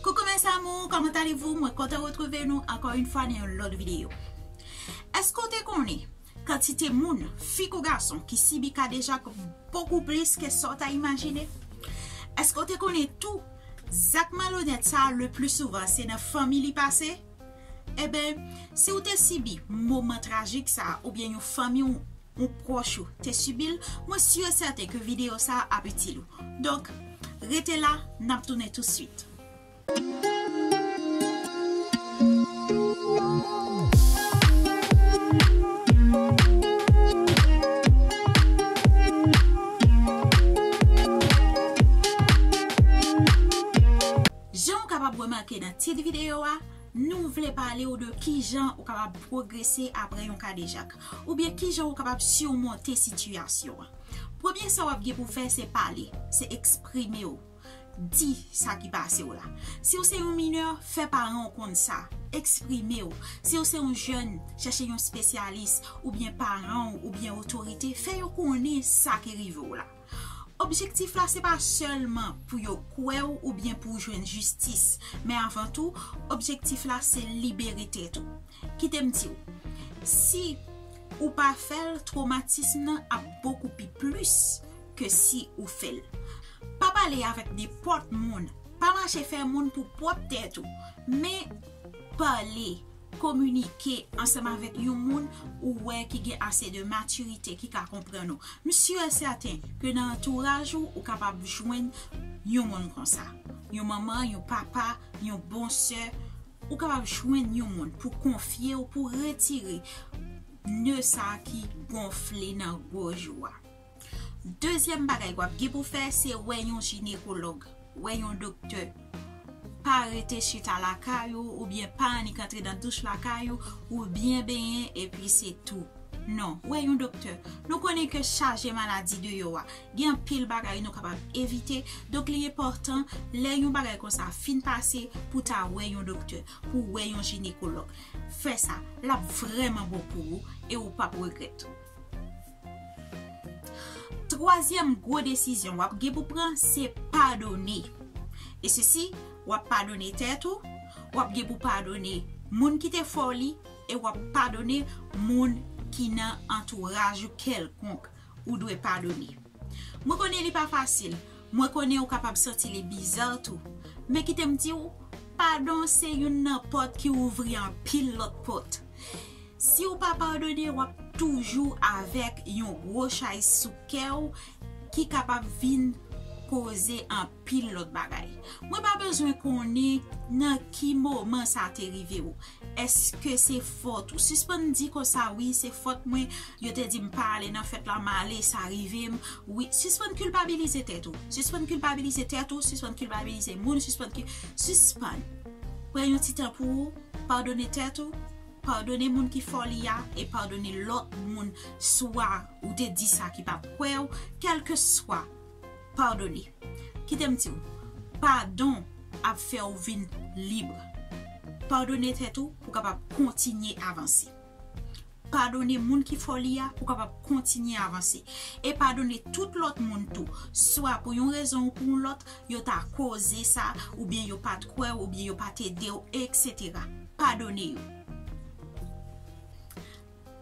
Coucou mes amours, comment allez-vous? Mwen kontan retrouve nou ankò yon fwa nan yon lòt videyo. Eske w te konnen kantite moun, fi kou gason, ki sibi kadejak bokou plis ke sa w ta imajine? Eske w te konnen tou zak malonèt sa le plis souvan se nan fanmi li pase? Enben, si ou te sibi moman trajik sa a oubyen yon fanmi w ou pwòch ou te sibi l, mwen si e sèten ke videyo sa a ap itil ou. Donk, rete la, n ap tounen tousuit. Jan ou kapab remake nan tit videyo a, nou vle pale ou de kijan ou kapab pwogrese apre yon kadejak, oubyen kijan ou kapab simonte sitiyasyon an. Premye sa w ap gen pou w fè se pale, se eksprime w, di sa ki pase w la. Si w se yon minè, fè paran w konn sa, eksprime w. Si w se yon jèn, chèche yon spesyalis, oubyen paran w, oubyen otorite, fè yo konnen sa ki rive w la. Objektif la se pa sèlman pou yo kwè w oubyen pou w jwenn jistis, men avan tou, objektif la se libere tèt ou. Kite m di w, si ou pa fè l, twomatism nan ap bokou pi plis ke si ou fè l. Pa pale avèk nenpòt moun, pa mache fè moun pou pwòp tèt ou, men pale. Kominike ansanm avèk yon moun ou wè ki gen ase de matirite ki ka konprann ou. M si e sèten ke nan antouraj ou, ou kapab jwenn yon moun konsa. Yon manman, yon papa, yon bon sè, ou kapab jwenn yon moun pou konfye ou pou retire nè sa ki gonfle nan goj ou a. Dezyèm bagay wap gen pou fè se wè yon jinekològ, wè yon doktè. Pa rete chita lakay ou oubyen pa annik antre nan douch lakay ou, ou byen benyen epi se tou. Non, wè yon doktè. Nou konnen ke chaje maladi deyò a, gen anpil bagay nou kapab evite, donk li enpòtan lè yon bagay konsa fin pase pou ta wè yon doktè, pou wè yon jinekològ. Fè sa, lap vrèman bon pou ou e ou pap regrèt. Twazyèm gwo desizyon wap gen pou pran se padone. E se si wap padone tèt ou, wap gen pou padone moun ki te fè w li e wap padone moun ki nan antouraj ou kèlkonk ou dwe padone. Mwen konnen li pa fasil, mwen konnen ou kapab santi li biza tou, men kite m di w, padon se youn nan pòt ki ouvri anpil lòt pòt. Siw pa padone wap toujou avek yon gwo chay sou kew ki kapab vin koze anpil lot bagay. Mwen pa bezwen konnen nan ki moman sa te rivew. Eske se fot ou? Sispann di konsa wi se fot mwen yo te dim pa ale nan fèt la male sa rivem wi. Sispann kilpabilize tèt ou. Sispann kilpabilize tèt ou, sispann kilpabilize moun, sispann. Pran yon ti tan pou ou padone tèt ou. Padone moun ki fò li a e padone lòt moun swa ou te di sa ki pa kwè ou, kèlke swa, padone. Kite m di ou, padon ap fè ou vin lib. Padone tèt ou pou kapab kontinye avanse. Padone moun ki fò li a pou kapab kontinye avanse. E padone tout lòt moun tou, swa pou yon rezon ou pou yon lòt, yo ta koze sa, oubyen yo pa t kwè ou, oubyen yo pa t ede ou, eksetera. padone yo.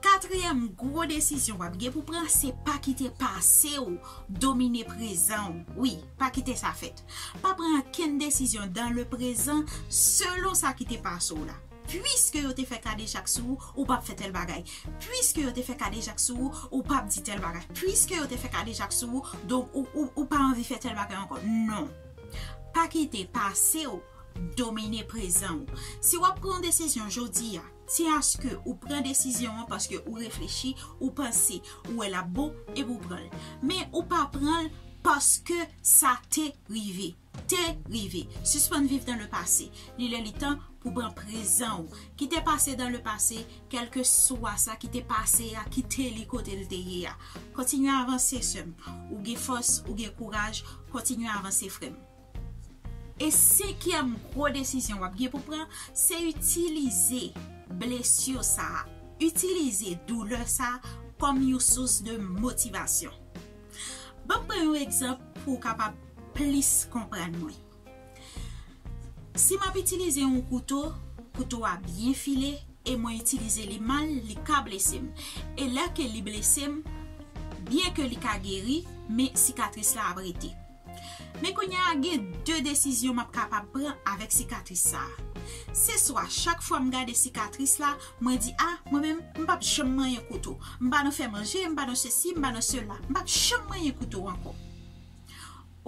Katriyèm gwo desizyon w ap gen pou pran se pa kite pase w domine prezan w. Wi, pa kite sa fèt. Pa pran ankenn desizyon dan le prezan selon sa ki te pase w la. Piske yo te fè kadejak sou ou, ou pap fè tèl bagay. Piske yo te fè kadejak sou ou, ou pap di tèl bagay. Piske yo te fè kadejak sou ou, donk ou pa anvi fè tèl bagay ankò. Non. Pa kite pase w. Domine prezan ou. Si w ap pran yon desizyon jodi a, se aske ou pran desizyon an paske ou reflechi, ou panse, ou wè l ap bon, epi ou pran l. Men ou pa pran l paske sa te rive. Te rive. Sispann viv dan le pase. Li lè li tan pou pran prezan ou. Kite pase dan le pase, kèlke swa sa ki te pase a, kite li kote l te ye a. Kontinye avanse sè m. Ou gen fòs, ou gen kouraj, kontinye avanse frè m. E senkyèm gwo desizyon wap gen pou pran, se itilize blessure sa, itilize douleur sa kòm yon sous de motivasyon. Banm pran yon egzanp pou w kapab plis konprann mwen. Si map itilize yon kouto, kouto a byen file e mwen itilize li mal, li ka blese m. E lè ke li blese m, byen ke li ka geri, men sikatris la ap rete. Men kounye a gen 2 desizyon m ap kapab pran avèk sikatris sa a. Se swa chak fwa m gade sikatris la, mwen di a, mwen menm, m p ap janm manyen kouto. M pa nan fè manje, m pa nan sesi, m pa nan sela. M p ap janm manyen kouto ankò.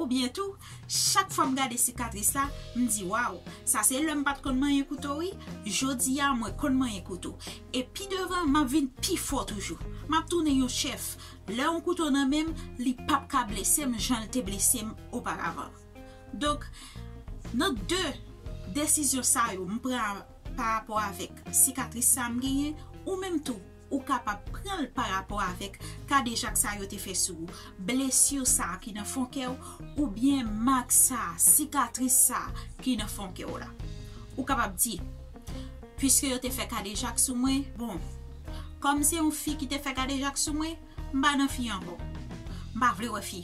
Oubyen tou, chak fwa m gade sikatris la, m di waw, sa se lè m pa t konn manyen kouto wi, jodi a mwen konn manyen kouto. E pi devan, m ap vin pi fò toujou. M ap tounen yon chèf. Lè yon kouto nan men m, li p ap ka blese m jan l te blese m oparavan. Donk, nan de desizyon sa yo m pran parapò avèk sikatris sa a m genyen, ou menm tou, ou kapab pran l parapò avèk kadejak sa yo te fè sou ou, blesi sa a ki nan fon kè w oubyen mak sa a, sikatris sa a ki nan fon kè w la. Ou kapab di. Piske yo te fè kadejak sou mwen, bon, kòm se yon fi ki te fè kadejak sou mwen, m pa nan fi ankò. M pa vle wè fi.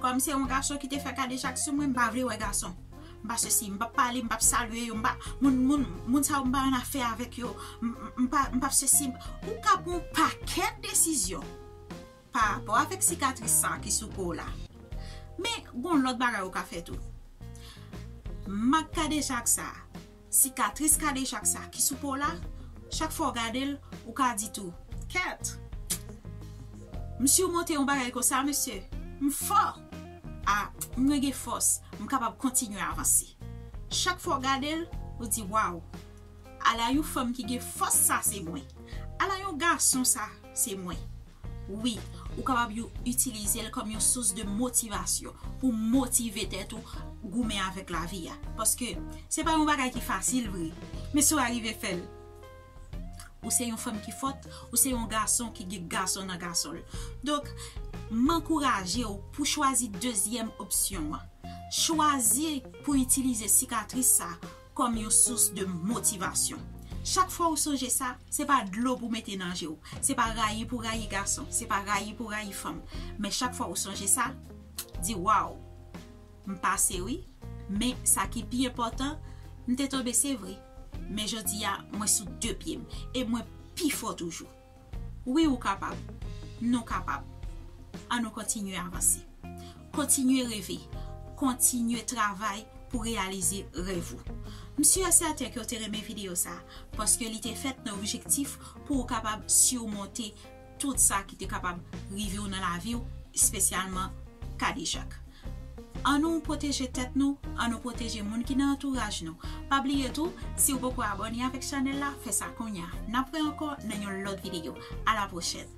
Kòm se yon gason ki te fè kadejak sou mwen, m pa vle wè gason. M pa sesi, m pap pale, m pap salye yo, m pa, moun, moun, moun sa yo m pa annafè avèk yo, m pa, m pap sesi, m pa. Ou ka pran yon pakèt desizyon. pa rapò avèk sikatris sa ki sou kouw la. Men gon lòt bagay ou ka fè tou. Mak kadejak sa, sikatris kadejak sa ki sou kouw la, chak fwa ou gadel, ou ka di tou, kèt! M simonte yon bagay konsa mesye! M fò! A, mwen gen fòs, m kapab kontinye avanse. Chak fwa ou gadel, ou di waw! Ala yon fanm ki gen fòs sa se mwen. Ala yon gason sa se mwen. Wi, ou kapab yon itilize l kòm yon sous de motivasyon pou motive tèt ou goumen avèk lavi a. Paske, se pa yon bagay ki fasil vre. Men si w arive fè l, ou se yon fanm ki fòt, ou se yon gason ki gen gason nan gason l. Donk, m ankouraje w pou chwazi dezyèm opsyon an. Chwazi pou itilize sikatris sa. kòm yon sous de motivasyon. Chak fwa ou sonje sa, se pa dlo pou mete nan je w, se pa rayi pou rayi gason, se pa rayi pou rayi fanm, men chak fwa ou sonje sa, di waw, m pase wi, men sa ki pi enpòtan, m te tonbe se vre, men jodi a mwen sou de pye m, e mwen pi fò toujou. Wi ou kapab, nou kapab. An nou kontinye avanse. Kontinye reve, kontinye travay pou reyalize rèv ou. M si e sèten ke ou te renmen videyo sa, paske li te fèt nan objektif pou ou kapab simonte tout sa ki te kapab rive ou nan lavi ou, espesyalman kadejak. An nou pwoteje tèt nou, an nou pwoteje moun ki nan antouraj nou. Pa bliye tou, siw poko abone avèk chanèl la, fè sa kounya. Nap wè ankò nan yon lòt videyo. A la pwochèn!